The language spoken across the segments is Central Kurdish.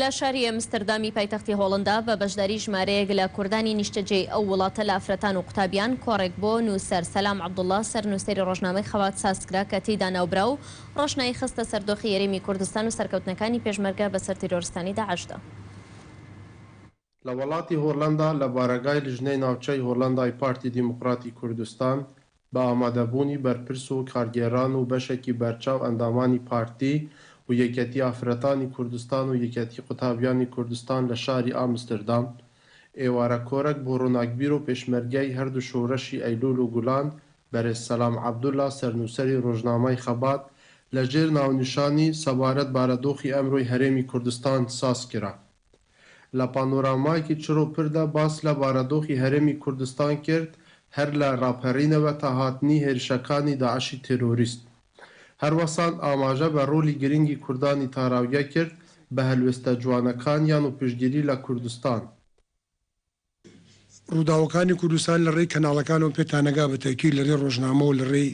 لە شاری ئەمستردامی پایتەختی هۆڵندا بە بەشداری ژمارەیەک لە کوردانی نیشتەجێی ئەو وڵاتە لە ئافرەتان و قوتابیان کۆڕێک بۆ نووسەر سەلام عەبدوڵڵا سەرنووسەری ڕۆژنامەی خەبات سازکرا کە تێیدا ناوبراو ڕۆشنایی خستە سەر دۆخی یەرێمی کوردستان و سەرکەوتنەکانی پێشمەرگە بەسەر تیرۆرستانی داعشدا. لە وەڵاتی هۆڵەندا لە بارەگای لیژنەی ناوچەی هۆڵەندای پارتی دیموکراتی کوردستان بە ئامادەبوونی بەرپرس و کارگێران و بەشێکی بەرچاو ئەندامانی پارتی و یەکێتی ئافرەتانی کوردستان و یەکێتی قوتابیانی کوردستان لە شاری ئامستردام ئێوارە کۆرەک بۆ ڕووناکبیر و پێشمەرگەی هەردوو شۆرەشی ئەیلول و گولان بەرێز سەلام عەبدولا سەرنووسەری ڕۆژنامەی خەبات لەژێر ناونیشانی سەبارەت بارەدۆخی ئەمرۆی هەرێمی کوردستان سازکرا. لە پانۆرامایەکی چڕ و پردا باس لە بارەدۆخی هەرێمی کوردستان کرد، هەر لە ڕاپەرینەوە تا هاتنی هێرشەکانی داعشی تێرۆریست. هەروەسان ئاماژە بە ڕۆلی گرنگی کوردانی تاراوگە کرد بە هەلوێستە جوانەکانیان و پشتگیری لە کوردستان. ڕووداوەکانی کوردستان لە ڕێی کەناڵەکانەوە پێتانەگا بە تەئکید لە ڕێی ڕۆژنامەو لە ڕێی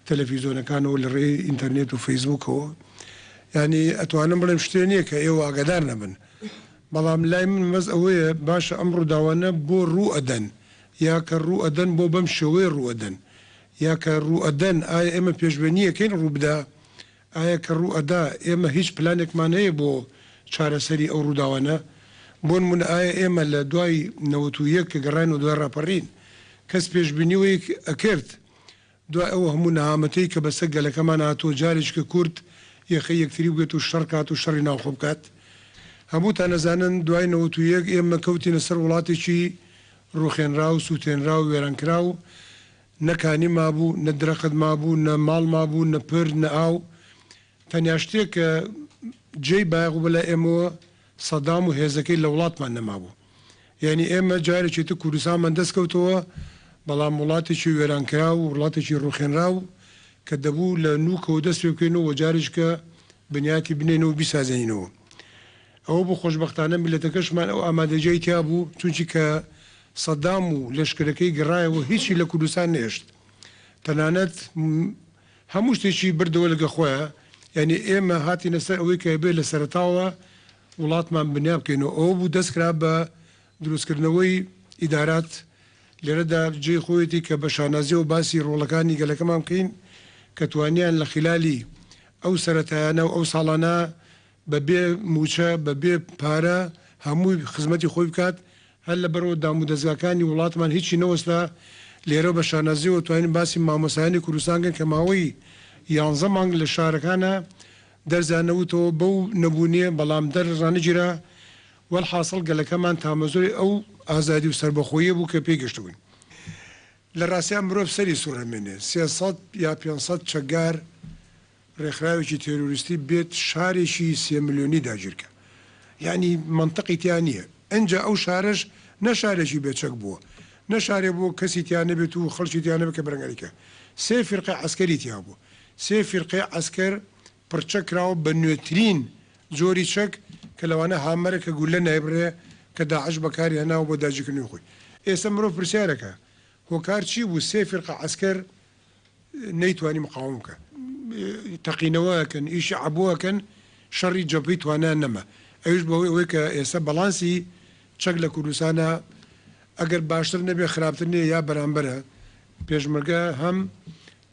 تەلەفیزۆنەکانەوە لە ڕێی ئینتەرنێت و فەیسبووکەوە یانی ئەتوانم بڵێم شتێ نیە کە ئێوە ئاگادار نەبن بەڵام لای من مەبەست ئەوەیە باشە ئەم ڕووداوانە بۆ ڕوو ئەدەن یا کە ڕوو ئەدەن بۆ بەم شێوەیە ڕوو ئەدەن یا کە ڕوو ئەدەن ئایا ئێمە پێشبێنی ئەکەین ڕوو بدا ئایا کە ڕوو ئەدا ئێمە هیچ پلانێکمان هەیە بۆ چارەسەری ئەو ڕووداوانە؟ بۆ نموونە ئایا ئێمە لە دوای نەوەت و یەک کە گەڕاینەوە دوای ڕاپەڕین کەس پێشبینی وەی ئەکرد دوای ئەو هەموو نەهامەتیەی کە بەسە گەلەکەمان هاتووە جارێکیکە کورد یەخەی یەکتری بگرێت و شەڕ کات و شەڕی ناوخۆ بکات؟ هەمووتان ئەزانن دوای نەوەت و یەک ئێمە کەوتینە سەر وڵاتێکی ڕووخێنراو، سووتێنراو، وێرانکراو، نە کانی مابوو، نە درەخت مابوو، نە ماڵ مابوو، نە پرد، نە ئاو. تەنیا شتێک کە جێی بایەخ بوو بەلای ئێمەوە سەدام و هێزەکەی لە وڵاتمان نەمابوو. یانی ئێمە جارێکی تر کوردستانمان دەست کەوتەوە، بەڵام وڵاتێکی وێرانکراو و وڵاتێکی ڕووخێنراو کە دەبوو لە نووکەوە دەست پێ بکەین و وە جارێکیکە بنیاتی بنێینەوە و بیسازێنینەوە. ئەوە بوو خۆشبەختانە میللەتەکەشمان ئەو ئامادەجیای تیا بوو، چونکی کە سەدام و لەشکرەکەی گەڕایەوە هیچی لە کوردستان نەهێشت تەنانەت هەموو شتێکی بردەوە لەگە خۆیا یانی ئێمە هاتینە سەر ئەوەی کە ئەبێ لە سەرەتاوە وڵاتمان بنیا بکەین و ئەوە بوو دەست کرا بە دروستکردنەوەی ئیدارات لێرەدا جێی خۆیەتی کە بە شانازیەوە باسی ڕۆڵەکانی گەلەکەمان بکەین کە توانیان لە خیلالی ئەو سەرەتایانە و ئەو ساڵانە بە بێ مووچە، بە بێ پارە هەمووی خزمەتی خۆی بکات، هەر لەبەرئەوە دام و دەزگاکانی وڵاتمان هیچی نەوەستا، لێرە بە شانازییەوە توانین باسی مامۆستایانی کوردستان بکەین کە ماوەی یانزە مانگ لە شارەکانا دەرزیان نەوتەوە بەو نەبوونیە بەڵام دەر ڕانەگیرا، وەلحاسڵ گەلەکەمان تامەزرۆی ئەو ئازادی و سەربەخۆییە بوو کە پێی گەشتبووین. لە ڕاستیا مرۆڤ سەری سوڕدەمێنێ سێ سەد یا پێنج سەد چەکگار، ڕێکخراوێکی تێرۆریستی بێت شارێکی سێ ملیۆنی داگیرکە یەعنی مەنتقی تیا نیە ئنجا ئەو شارەش نە شارێکی بێ چەک بووە نە شارێ بووە کەسی تیا نەبێت و خەڵکی تیا نەبێت کە بەرەنگاری کە سێ فیرقەی عەسکەری تیا بووە سێ فیرقەی عەسکەر پڕچەک کراوە بە نوێترین جۆری چەک کە لەوانە هامەرە کە گولە نایبڕێ کە داعش بەکاری هەناوە بۆ داگیرکردنی خۆی ئێستا مرۆڤ پرسیارەکە هۆکار چی بوو سێ فیرقە عەسکەر نەیتوانی مقاوم بکا تەقینەوە ئەکەن ئیشی عەبۆ ئەکەن شەڕی جەبهەی توانایان نەما ئەویش بەهۆی ئەوەی کە ئێستا بەڵانسی چەک لە کوردستانا ئەگەر باشتر نەبێ خراپتر نیە یا بەرامبەرە پێشمەرگە هەم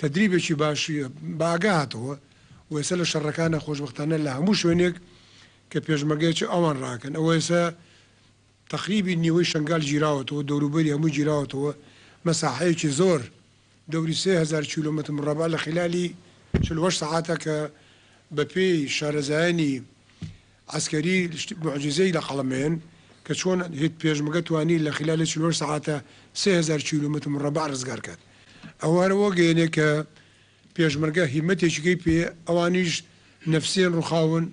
تەدریبێکی باشی بە ئاگا هاتەوە و ئێستا لە شەڕەکانا خۆشبەختانە لە هەموو شوێنێک کە پێشمەرگە چ ئەوان ڕاکەن ئەوە ئێستا تەقریبی نیوەی شەنگال گیراوەتەوە دەوروبەری هەمووی گیراوەتەوە مەساحەیەکی زۆر دەوری سێ هەزار کیلۆمەتر مڕەبع لە خیلالی چل و هەشت سەعاتە کە بە پێی شارەزایانی عەسکەری شت موعجیزەی لە قەڵەم ئێن کە چۆن هێت پێشمگە توانی لە خیلالی چل و هەشت سەعاتە سێ هەزار کیلۆمەتر مڕەبع ڕزگار کات ئەوە هەر ئەوە گەیەنێ کە پێشمەرگە هیمەتێکیگەی پێیە ئەوانیش نەفسیان ڕوخاون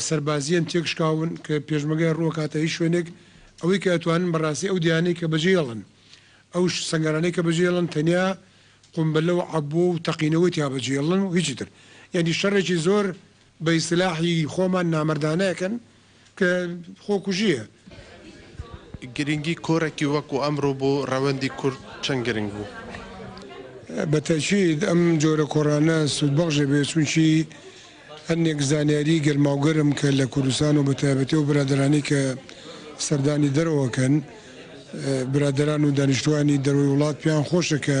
سەربازییەن تێکشکاون کە پێشمەرگەیان ڕووەکاتە هیچ شوێنێک، ئەوەی کە ئەتوانن بەڕاستی ئەو دەیانەی کە بەجێ هێڵن، ئەو سەنگەرانەی کە بەجێ هێڵن تەنیا قومبلە و عەبۆ و تەقینەوەی تیا بەجێ هێڵن و هیچی تر، یانی شەڕێکی زۆر بە ئیستلاحی خۆمان نامەردانە ئەکەن کە خۆکوژییە. گرنگی کۆڕێکی وەکو ئەمڕۆ بۆ ڕەوەندی کورد چەند گرنگ بوو؟ بە تەئکید ئەم جۆرە کۆڕانە سوودبەخش دەبێت، چونکی هەندێک زانیاریی گەرماوگەرم کە لە کوردستان و بە تایبەتی ئەو برادەرانەی کە سەردانی دەرەوە ئەکەن، برادەران و دانیشتووانی دەرەوەی وڵات پێیان خۆشە کە،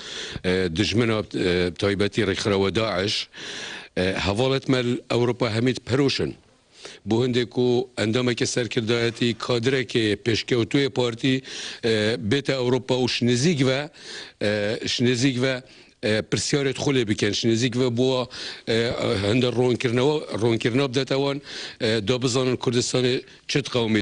دوژمن و بتایبەتی ریکخراوە داعش هەڤاڵتمەل ئەوڕوپا هەمیت پەرۆشن بۆ هەندێک و ئەندامێکی سەرکردایەتی کادرێکی پێشکەوتووی پارتی بێتە ئەوڕوپا و شنزیک ڤە شنزیک ڤە پرسیارێت خۆ لێ بکەن شنزیک ڤە بووە هەندە ڕوونکردنەوە ڕوونکردنەوە بدەتەوەن دا بزانن کوردستانی چت قەومی